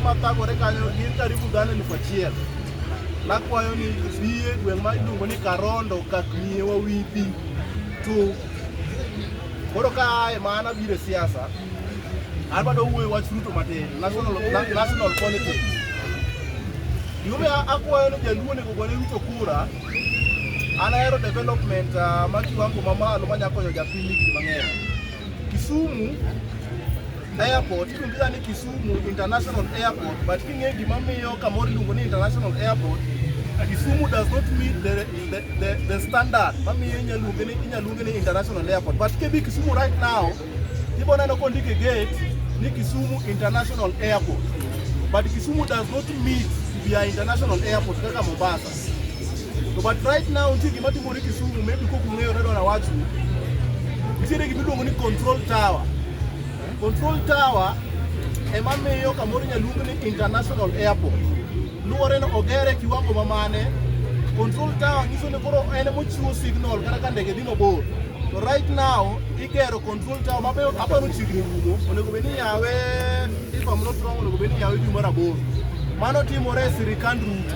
Makagore kanyo gin karibu dhano elfu achiel. Nakwayo ni biye gweng' ma iluongo ni Karondo kaknie wawithi tu. Koro ka aye mana bire siasa, an bado wuoyo wach Ruto matin, national, na- national politics. Yume akwayo ni jaluo onego gone Ruto kura, an ahero development uh, ma kiwango mamalo manya konyo japiny higni mang'eny. Kisumu airport iluonga ni Kisumu International Airport but king'e gima miyo kamoro iluongo ni International Airport Kisumu does not meet the, the, the, the standard mamiyo inyaluonge ni inyaluonge ni International Airport but kebi Kisumu right now ibo neno kondike gate ni Kisumu International Airport but Kisumu does not meet via International Airport kaka Mombasa To but right now nitie gima timore Kisumu, maybe kok ung'eyo redo na wachu. Nitiere gima iluongo ni control tower. Control tower ema miyo kamoro nyaluong ni international airport. Luwore ni ogere e kiwango ma mane. Control tower nyiso ni koro en mochiwo signal kata ka ndege dhi mabor. To right now igero control tower ma beyo aparo chiegni rumo. Onego bed ni yawe if I'm not wrong onego bed ni yawe dwe mar aboro. Mano timore e sirikand Ruto.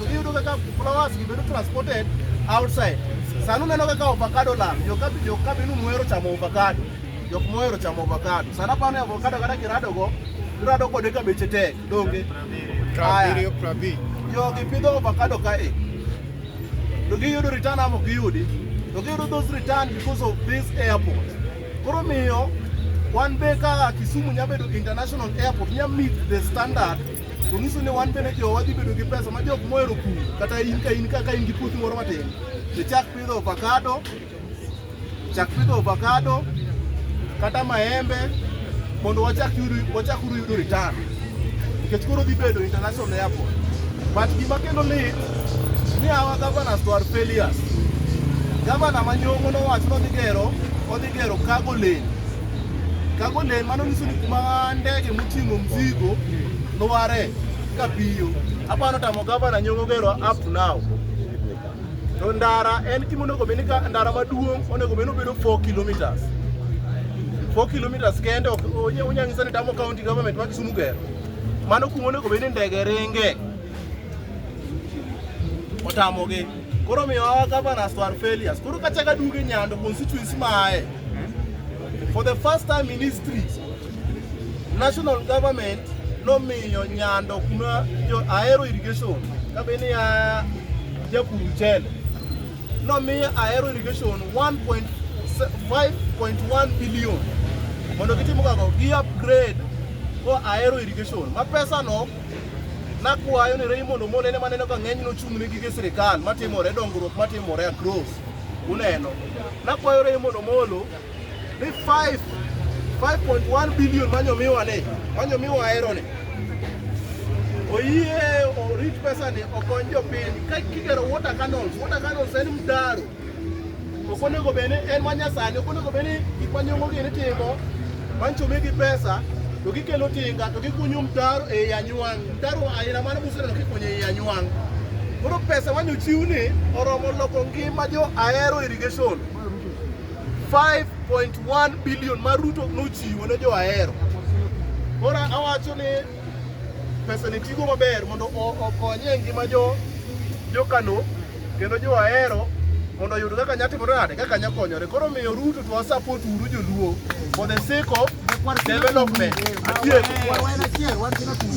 Iyudo kaka flowers gi bedo transported outside. Sanu neno kaka avocado land, jo kabi jo kabi nu muero chamo avocado. Jok muero chamo avocado. Sana pa ne avocado kada kirado go, kirado go de kabeche tek, donge. Prabirio prabi. Jo gi pidho avocado ka e. To gi yudo return amo gi yudi. To gi yudo those return because of this airport. Koro miyo wan be ka Kisumu nyabedo international airport nya meet the standard To nyiso ni wan bende jowa dhi bedo gi pesa ma jok mohero pur kata in ka in ka ka in gi puothi moro matin to chak pidho avocado chak pidho avocado kata maembe mondo wachak yudo wachak uru yudo return nikech koro dhi bedo international airport but gima kendo lit ni our governors to are failures gavana manyongo nowacho nodhi gero odhi gero cargo lane Kago ne mano nyiso ni kuma ndege moting'o mzigo noware ka piyo. Aparo tamo gavana nyongo gero up to now. To ndara en gima onego bed ni ka ndara maduong' onego bed ni obedo 4 kilometers. 4 kilometers kende ok unyang'isa ni tamo county government ma Kisumu gero. Mano kuma onego bed ni ndege ringe. otamogi koro miyo our governors to our failures koro kachaka duge nyando constituency mae for the first time in history national government nomiyo nyando kuma jo aero irrigation kabeni ya japur mchele nomiyo aero irrigation 1.5.1 billion mondo gitim kago gi upgrade ko aero irrigation ma pesa no Nakwayo ni Raymond Omolo ene maneno ka ng'eny nochung' ne gige sirikal matimore dongruok matimore across. Uneno. Nakwayo Raymond Omolo ni 5 5.1 billion manyomiwa ni manyomiwa ahero ni oyie orit pesa ni okony jopiny ka kigero water canals water canals en mtaro Ok onego bed ni en manyasani, ok onego bed ni gik manyongo gini timo, manchumi gi pesa, to gikelo tinga, to gikunyo mtaro e i anywang'. Mtaro aina mane museneno kikunyo e i anywang'. Koro pesa mane ochiw ni oromo loko ngima jo Ahero irrigation. 5.1 billion ma Ruto nochiwo ne jo Ahero. Koro awacho ni pesa ni tigo maber mondo o- okonye e ngima jo jo Kano Kendo jo ahero mondo oyud kaka nya timore nade kaka nya konyore. Koro miyo Ruto to support uru joluo for the sake of development. Adier.